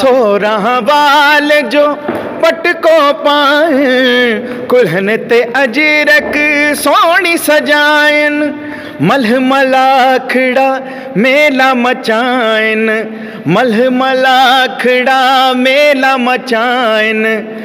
سورهن وال جو پٽڪو پائين، ڪلهن تي اجرڪ سهڻي سجائين، ملهه ملاکڙا ميلا مچائين، ملهه ملاکڙا ميلا مچائين.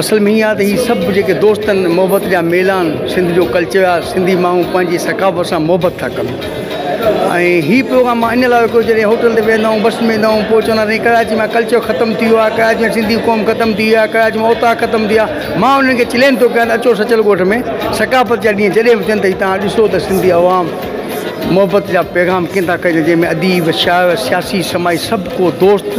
اصل ۾ اها ته هي سڀ جيڪي دوستن محبت جا ميلان سنڌ جو ڪلچر آ سنڌي ماڻهو پنهنجي ثقافت سان محبت ٿا ڪن ۽ هي پروگرام مان ان لاء رکيو جڏهن هوٽل تي ويهندا آهيون بس ويهندا آهيون پوء چوندا آهن ڪراچي مان ڪلچر ختم ٿي ويو آ ڪراچي مان سنڌي قوم ختم ٿي وئي آ ڪراچي مان اوطاق ختم ٿي ويا مان انهن کي چئلينج ٿو ڪيان اچو سچل ڳوٺ ۾ ثقافت جا ڏينهن جڏهن به ٿين ته تان ڏسو ته سنڌي عوام محبت جا پيغام ڪين ٿا ڪجن جنهن ۾ اديب شاعر سياسي سماجي سڀ ڪو دوست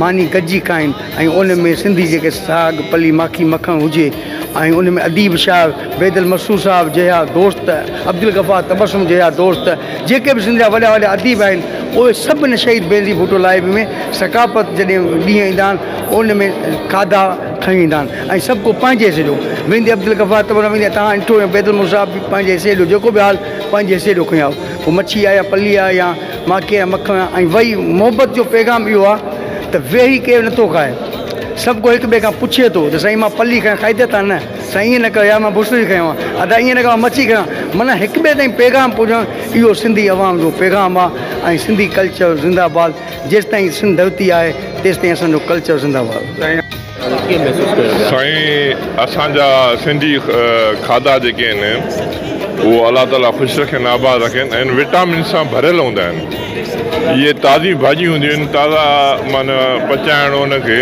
ماني گڏجي کائين ۽ ان ۾ سنڌي جيڪي ساڳ پلي ماکي مکڻ هجي ۽ ان ۾ اديب شاعر بيدل مسرور صاحب جهيا دوست عبدالغفار تبسم جهيا دوست جيڪي به سنڌ جا وڏا وڏا اديب آهن اهي سڀ ان شهيد بينظير ڀٽو لائيبري ۾ ثقافت جڏهن ڏينهن ايندا آهن ان ۾ کاڌا کڻي ويندا آهن ۽ سڀ ڪو پنهنجي حصي جو ويندي عبدالغفار تبسم ويندي توهان ڏٺو بيدل مسرور صاحب به پنهنجي حصي جو جيڪو به حال پنهنجي حصي جو کڻي آيو پوء مڇي آهي يا پلي آهي يا ماکي ۽ مکڻ ۽ وحي محبت جو پيغام اهو آ ته ويهي ڪير نه ٿو کائي سڀ ڪو هڪ ٻئي کان پڇي ٿو ته سائين مان پلي کنيان کائي ڏيت آ نه سائين ائين نه ڪر يار مان بسري کنيو آ ادا ائين نه ڪر مان مڇي کنيو آ معنيٰ هڪ ٻئي تائين پيغام پهچائڻ اهو سنڌي عوام جو پيغام آ ۽ سنڌي ڪلچر زنده باد جيستائين سنڌ ڌرتي آهي تيستائين اسان جو ڪلچر زنده باد. سائين اسان جا سنڌي کاڌا جيڪي آهن اهو الله تعالي خوش رکين آباد رکين ۽ وٽامن سان ڀريل هوندا آهن اهي تازي ڀاڄيون هونديون آهن تازا معنيٰ پچائڻ ان کي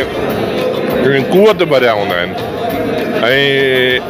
قوت ڀريا هوندا آهن ۽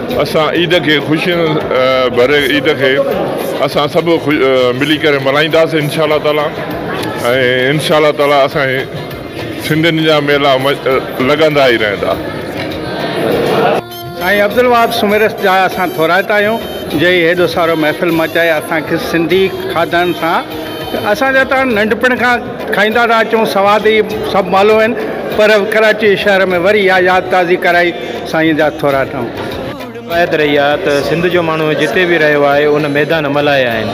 اسان عيد کي خوشين ڀري عيد کي اسان سڀ ملي ڪري ملهائينداسين انشاء الله تعالي ۽ انشاء الله تعالي اسان سنڌين جا ميلا لڳندا ئي رهندا. سائين عبدالوهاب سومرس جا اسان ٿورائتا آهيون جنهن هيڏو سارو محفل مچائي اسان کي سنڌي کاڌن سان اسان جا ته هاڻ ننڍپڻ کان کائيندا ٿا اچون سواد ئي سڀ مالو آهن پر ڪراچي شهر ۾ وري اها ياد تازي ڪرائي سائين جا ٿورا ٽنگ. روايت رهي آهي ته سنڌ جو ماڻهو جتي به رهيو آهي ان ميدان ملهايا آهن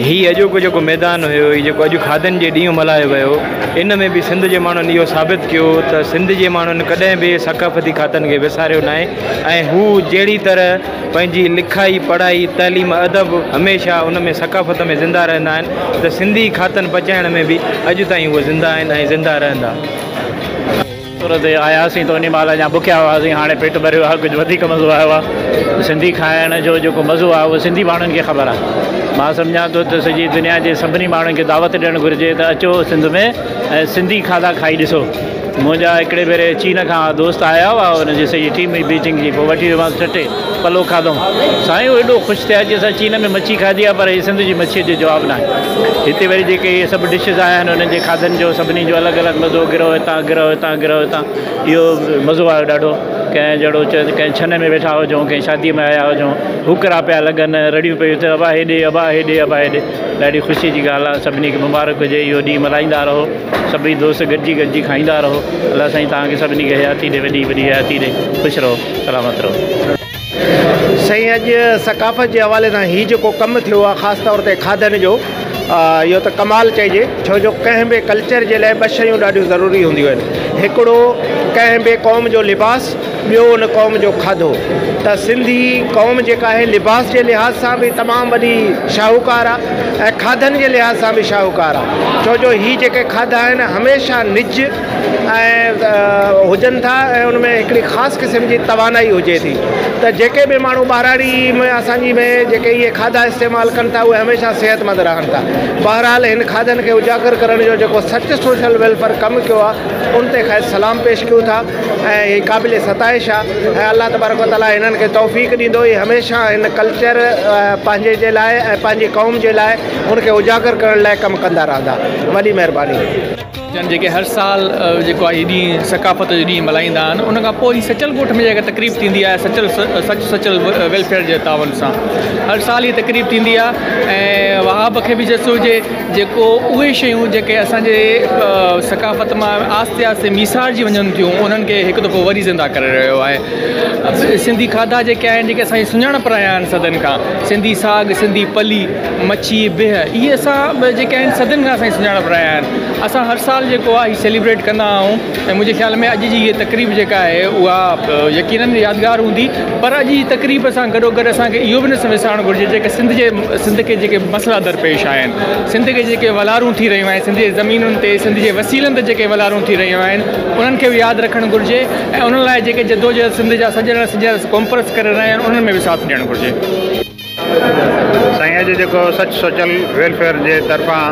هي اڄوڪو جيڪو ميدان هيو هي جيڪو اڄ کاڌن جي ڏينهن ملهايو ويو ان ۾ به سنڌ جي ماڻهن اهو ثابت ڪيو ته سنڌ جي ماڻهن ڪڏهن به ثقافتي کاڌن کي وساريو ناهي ۽ هو جهڙي طرح پنهنجي لکائي، پڙهائي، تعليم، ادب هميشه ان ۾ ثقافت ۾ زنده رهندا آهن ته سنڌي کاتن پچائڻ ۾ به اڄ تائين هو زنده آهن ۽ زنده رهندا. سر تي آياسين ته انهي مهل اڃا بکيا هئاسين هاڻي پيٽ ڀريو آهي ڪجهه وڌيڪ مزو آيو آهي سنڌي کائڻ جو جيڪو مزو آهي اهو سنڌي ماڻهن کي خبر آهي مان سمجهان ٿو ته سڄي دنيا جي سڀني ماڻهن کي دعوت ڏيڻ گهرجي ته اچو سنڌ ۾ ۽ سنڌي کاڌا کائي ڏسو. منهنجا هڪڙي ڀيري چين کان دوست آيا هئا، انهن جي سڄي ٽيم هئي بيجنگ جي، پوء وٺي ويومانس ٺٽي، پلو کاڌوم، سائين هو ايڏو خوش ٿيا چي اسان چين ۾ مڇي کاڌي آهي پر هي سنڌ جي مڇيء جو جواب ناهي. هتي وري جيڪي اهي سڀ ڊشز آيا آهن انهن جي کاڌن جو سڀني جو الڳ الڳ مزو، گرهه هتان، گرهه هتان، گرهه هتان، اهو مزو آيو ڏاڍو، ڪنهن جهڙو چيو ته ڪنهن ڇنه ۾ ويٺا هجون، ڪنهن شاديء ۾ آيا هجون، هوڪرا پيا لڳن، رڙيون پيون ٿين ابا هيڏي، ابا هيڏي، ابا هيڏي، ڏاڍي خوشيء جي ڳالهه آهي، سڀني کي مبارڪ هجي، اهو ڏينهن ملهائيندا رهو. سڀئي دوست گڏجي گڏجي کائيندا رهو الله سائين توهان کي سڀني کي حياتي ڏي وڏي وڏي حياتي ڏي خوش رهو سلامت رهو. سائين اڄ ثقافت جي حوالي سان هي جيڪو ڪم ٿيو آ خاص طور تي کاڌن جو اهو ته ڪمال چئجي ڇو جو ڪنهن به ڪلچر جي لاء ٻه شيون ڏاڍيون ضروري هونديون آهن هڪڙو ڪنهن به قوم جو لباس ٻيو ان قوم جو کاڌو ته سنڌي قوم جيڪا آهي لباس جي لحاظ سان به تمام وڏي شاهوڪار آهي ۽ کاڌن جي لحاظ سان به شاهوڪار آهي ڇو جو هي جيڪي کاڌا آهن هميشه نج ۽ هجن ٿا ۽ ان ۾ هڪڙي خاص قسم جي توانائي هجي ٿي ته جيڪي به ماڻهو ٻهراڙي ۾ اسانجي ۾ جيڪي هي کاڌا استعمال ڪن ٿا اهي هميشه صحت مند رهن ٿا بهرحال هن کاڌن کي اجاگر ڪرڻ جو جيڪو سچ سوشل ويلفيئر ڪم ڪيو آهي ان تي کيس سلام پيش ڪيون ٿا ۽ هي قابل ستائش آ ۽ الله تبارڪ و تعالي هنن کي توفيق ڏيندو هي هميشه هن ڪلچر پنهنجي جي لاء ۽ پنهنجي قوم جي لاء ان کي اجاگر ڪرڻ لاء ڪم ڪندا رهندا وڏي مهرباني. جن جيڪي هر سال جيڪو آهي هي ڏينهن ثقافت جو ڏينهن ملهائيندا آهن ان کان پوء هي سچل ڳوٺ ۾ جيڪا تقريب ٿيندي آهي سچل سچ سچل ويلفيئر جي تعاون سان هر سال هي تقريب ٿيندي آهي ۽ وهاب کي به جس هجي جيڪو اهي شيون جيڪي اسان جي ثقافت مان آهستي آهستي ميسارجي وڃن ٿيون انهن کي هڪ دفعو وري زنده ڪري رهيو آهي سنڌي کاڌا جيڪي آهن جيڪي اسان جي سڃاڻپ رهيا آهن صدين کان سنڌي ساڳ سنڌي پلي مڇي بيهه اهي اسان جيڪي آهن صدين کان اسان جي سڃاڻپ رهيا آهن اسان هر سال جيڪو آهي سيليبريٽ ڪندا آهيون ۽ منهنجي خيال ۾ اڄ جي هي تقريب جيڪا آهي اها يقينن يادگار هوندي پر اڄ جي تقريب سان گڏو گڏ اسان کي اهو به نه وسارڻ گهرجي جيڪي سنڌ جي سنڌ کي جيڪي مسئلا درپيش آهن، سنڌ کي جيڪي ولارون ٿي رهيون آهن، سنڌ جي زمينن تي سنڌ جي وسيلن تي جيڪي ولارون ٿي رهيون آهن انهن کي به ياد رکڻ گهرجي ۽ انهن لاء جيڪي جدوجهد سنڌ جا سڄڻ سنجهڻ ڪانفرنس ڪري رهيا آهن انهن ۾ به ساٿ ڏيڻ گهرجي. سائين اڄ جيڪو سچ سوچل ويلفيئر جي طرفان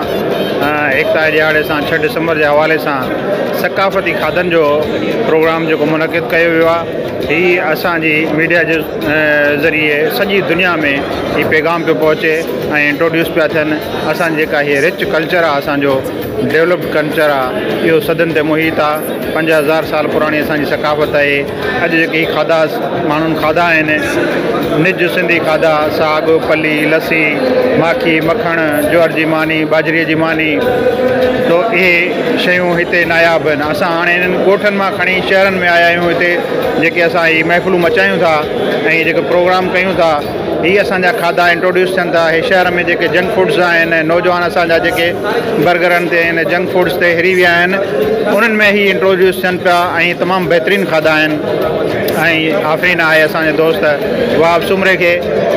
ايڪتا جي ڏهاڙي سان ڇهه ڊسمبر جي حوالي سان ثقافتي کاڌن جو پروگرام جيڪو منعقد ڪيو ويو آهي هي اسان جي ميڊيا جي ذريعي سڄي دنيا ۾ هي پيغام پيو پهچي ۽ انٽروڊيوس پيا ٿين اسان جيڪا هي رچ ڪلچر آ اسان جو ڊيولپڊ ڪلچر آ اهو صدين تي محيط آ پنج هزار سال پراڻي اسان جي ثقافت آهي اڄ جيڪي هي کاڌا ماڻهن کاڌا آهن نج سنڌي کاڌا ساڳ پلي لسي ماکي مکڻ جوار جي ماني ٻاجهري جي ماني تو اهي شيون هتي ناياب آهن اسان هاڻي هنن ڳوٺن مان کڻي شهرن ۾ آيا آهيون هتي جيڪي اسان هي محفلون مچايون ٿا ۽ جيڪي پروگرام ڪيون ٿا هي اسان جا کاڌا انٽروڊيوس ٿين ٿا هي شهر ۾ جيڪي جنڪ فوڊس آهن ۽ نوجوان اسان جا جيڪي برگرن تي ۽ جنڪ فوڊس تي هري ويا آهن انهن ۾ هي انٽروڊيوس ٿين پيا ۽ تمام بهترين کاڌا آهن ۽ آفرين آهي اسان جي دوست وهاب سومري کي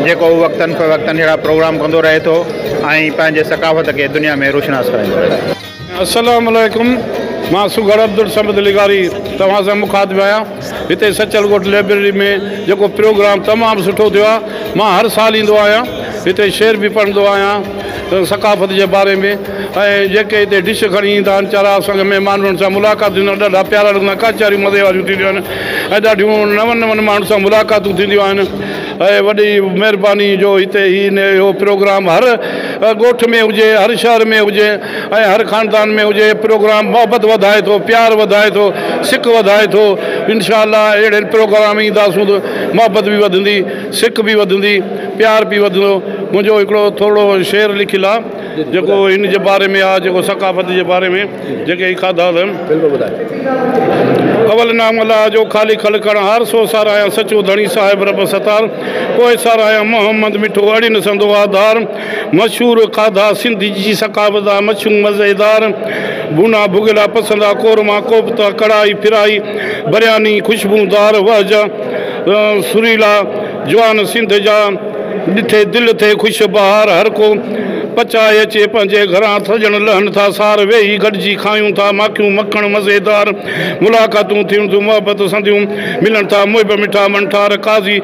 جيڪو وقتن فوقتن ههڙا پروگرام ڪندو رهي ٿو ۽ پنهنجي ثقافت کي دنيا ۾ روشناس ڪرائيندو رهي ٿو. السلام عليڪم مان سگهڙ عبدالصمد لغاري توهان سان مخاطب آهيان هتي سچل ڳوٺ لئبرري ۾ جيڪو پروگرام تمام سٺو ٿيو آهي مان هر سال ايندو آهيان هتي شعر به پڙهندو آهيان ثقافت جي باري ۾ ۽ جيڪي هتي ڊش کڻي ايندا آهن چارا اسان کي مهمان انهن سان ملاقات ٿيندو آهن ڏاڍا پيارا لڳندا آهن ڪچهريون مزي واريون ٿينديون آهن ۽ ڏاڍيون نون نون ماڻهن سان ملاقاتون ٿينديون آهن اهي وڏي مهرباني جو هتي هي نه اهو پروگرام هر ڳوٺ ۾ هجي هر شهر ۾ هجي ۽ هر خاندان ۾ هجي پروگرام محبت وڌائي ٿو پيار وڌائي ٿو سڪ وڌائي ٿو انشاء الله اهڙي پروگرام اينداسون ته محبت به وڌندي سڪ به وڌندي پيار به وڌندو منهنجو هڪڙو ٿورڙو شعر لکيل آهي جيڪو ان جي باري ۾ آ جيڪو ثقافت جي باري ۾ جيڪي هي کاڌا اٿم. بلڪل ٻڌايو. اول نام الله جو خالق خلقڻ هار سو ساراهيان سچو ڌڻي صاحب رب ستار پوء ساراهيان محمد مٺو اڙين سندو آڌار مشهور کاڌا سنڌ جي ثقافت آ مڇون مزيدار ڀونا ڀڳيلا پسندا قورما ڪوفتا ڪڙهائي ڦرائي برياني خوشبودار وهجا سريلا جوان سنڌ جا، ڏٺي دل ٿئي خوش بهار هر ڪو پچائي اچي پنهنجي گهران سڄڻ لهن ٿا سار ويهي گڏجي کايون ٿا ماکيون مکڻ مزيدار ملاقاتون ٿين ٿيون محبت سنديون ملن ٿا محب مٺا منٺار قاضي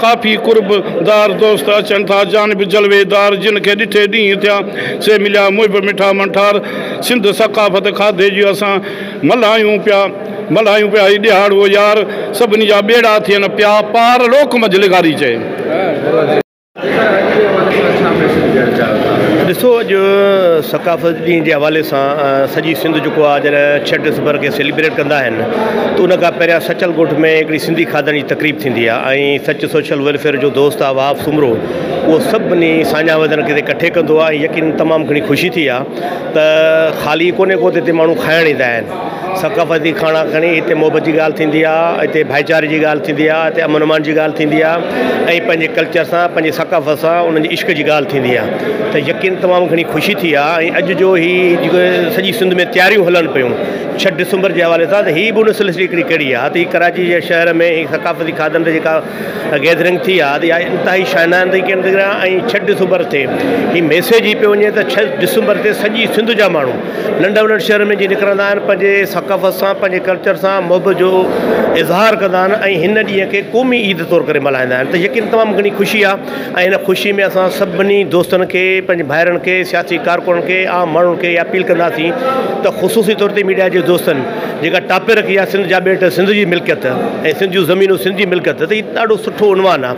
ڪافي قرب دار دوست اچن ٿا جانب جلوي دار جن کي ڏٺي ڏينهن ٿيا سي مليا محب مٺا منٺار سنڌ ثقافت کاڌي جي اسان ملهايون پيا، ملهايون پيا هي ڏيهاڙ هو يار، سڀني جا ٻيڙا ٿين پيا پار لوڪ منجهه لغاري چئي. ڏسو اڄ ثقافت ڏينهن جي حوالي سان سڄي سنڌ جيڪو آهي جڏهن ڇهه ڊسمبر کي سيليبريٽ ڪندا آهن ته ان کان پهريان سچل ڳوٺ ۾ هڪڙي سنڌي کاڌن جي تقريب ٿيندي آهي ۽ سچ سوشل ويلفيئر جو دوست آهي وهاب سومرو اهو سڀني ساڃاهه وڌڻ کي ڪٺي ڪندو آهي ۽ يقينن تمام گهڻي خوشي ٿي آهي ته خالي ڪونهي ڪو ته هتي ماڻهو کائڻ ايندا آهن ثقافتي کاڻا کڻي هتي محبت جي ڳالهه ٿيندي آهي هتي ڀائيچاري جي ڳالهه ٿيندي آهي هتي امن امان جي ڳالهه ٿيندي آهي ۽ پنهنجي ڪلچر سان پنهنجي ثقافت سان انهن جي عشق جي ڳالهه ٿيندي آهي ته يقين تمام گهڻي خوشي ٿي آهي ۽ اڄ جو هي جيڪو سڄي سنڌ ۾ تياريون هلن پيون ڇهه ڊسمبر جي حوالي سان ته هي به ان سلسلي ڪڙي ڪڙي آهي ته هي ڪراچي جي شهر ۾ ثقافتي کاڌن جي ڪا گيدرنگ ٿي آ يا انتهائي شاهنانه طريقي سان ٿي آ ۽ ڇهه ڊسمبر تي هي ميسيج هي پيو وڃي ته ڇهه ڊسمبر تي سڄي سنڌ جا ماڻهو ننڍ وڏن شهرن ۾ جي نڪرندا آهن پنهنجي ثقافت سان پنهنجي ڪلچر سان محبت جو اظهار ڪندا آهن ۽ هن ڏينهن کي قومي عيد طور ڪري ملهائيندا آهن ته يقين تمام گهڻي خوشي آ ۽ هن خوشي ۾ اسان سڀني دوستن کي پنهنجي ڀائرن کي سياسي ڪارڪنن کي عام ماڻهن کي اها اپيل ڪنداسين ته خصوصي طور تي ميڊيا جي دوستن جيڪا ٽاپي رکي آ سنڌ جا ٻيٽ سنڌ جي ملڪيت ۽ سنڌ جون زمينون سنڌ جي ملڪيت ته هي ڏاڍو سٺو عنوان آ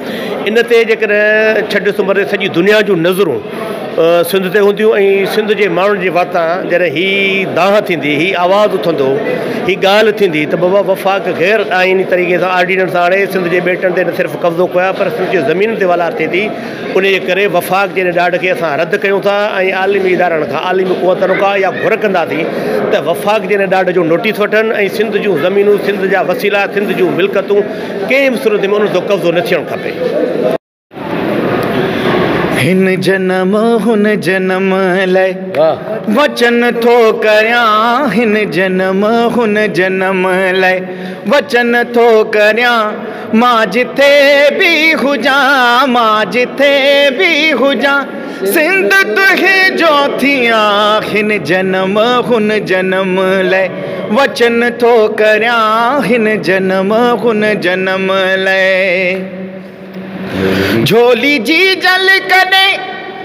ان تي جيڪڏهن ڇهه ڊسمبر تي سڄي دنيا جون نظرون سنڌ تي هونديون ۽ سنڌ جي ماڻهن جي واتان جڏهن هي دانهن ٿيندي هي آواز اٿندو هي ڳالهه ٿيندي ته بابا وفاق غير آئيني طريقي سان آرڊيننس آڻي سنڌ جي ٻيٽن تي نه صرف قبضو ڪيو آ پر سنڌ جي زمين تي والار ٿئي ٿي انهيء ڪري وفاق جي ان ڏاڍ کي اسان رد ڪيون ٿا ۽ عالمي ادارن کان عالمي قوتن کان اها گهر ڪنداسين ته وفاق جي ان ڏاڍ جو نوٽيس وٺن ۽ سنڌ جون زمينون، سنڌ جا وسيلا، سنڌ جون ملڪتون ڪنهن به صورت ۾ انهن تي قبضو نه ٿيڻ کپي. هن جنم هن جنم لئه وچن ٿو ڪريان هن جنم هن جنم لئه وچن ٿو ڪريان. مان جتي به هجان، مان جتي به هجان، سنڌ تنهنجو ٿيان، هن جنم هن جنم لئه وچن ٿو ڪريان، هن جنم هن جنم لئه جهولي جي جل ڪڏهن،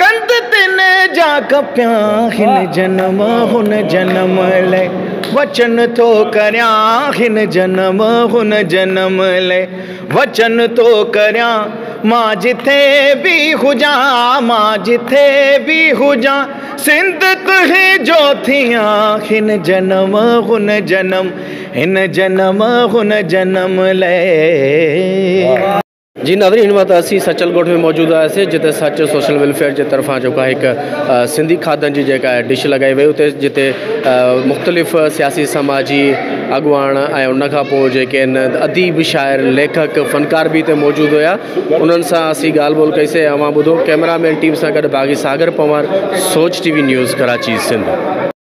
ڪنڌ تن جا ڪپيان هن جنم هن جنم لئه وچن ٿو ڪريان هن جنم هن جنم لئه وچن ٿو ڪريان مان جٿي به هجان مان جٿي به هجان سنڌ تنهنجو ٿيان هن جنم هن جنم هن جنم هن جنم لئه. جي ناظرين هن وقت اسين سچل ڳوٺ ۾ موجود آهياسين جتي سچ سوشل ويلفيئر جي طرفان جيڪو آهي هڪ سنڌي کاڌن جي جيڪا آهي ڊش لڳائي وئي اتي جتي مختلف سياسي سماجي اڳواڻ ۽ ان کان پوء جيڪي آهن اديب شاعر ليکڪ فنڪار به هتي موجود هيا انهن سان اسين ڳالهه ٻولهه ڪئي سي اوهان ٻڌو ڪيمرا مين ٽيم سان گڏ Baghi Sagar Panwar Soch T V news Karachi Sindh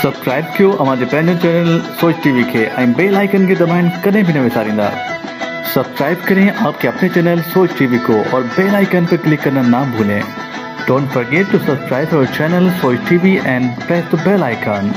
subscribe ڪيو اوهان جي پنهنجي چينل سوچ ٽي وي کي ۽ بيل آئيڪن کي دٻائڻ ڪڏهن به نه وساريندا سبسڪرائب ڪرين آپ ڪي اپني چينل سوچ ٽي وي ڪو اور بيل آئيڪن پي ڪلڪ ڪرنا نا ڀولين ڊونٽ فرگيٽ ٽو سبسڪرائب اور channel Soch T V and press the bell icon.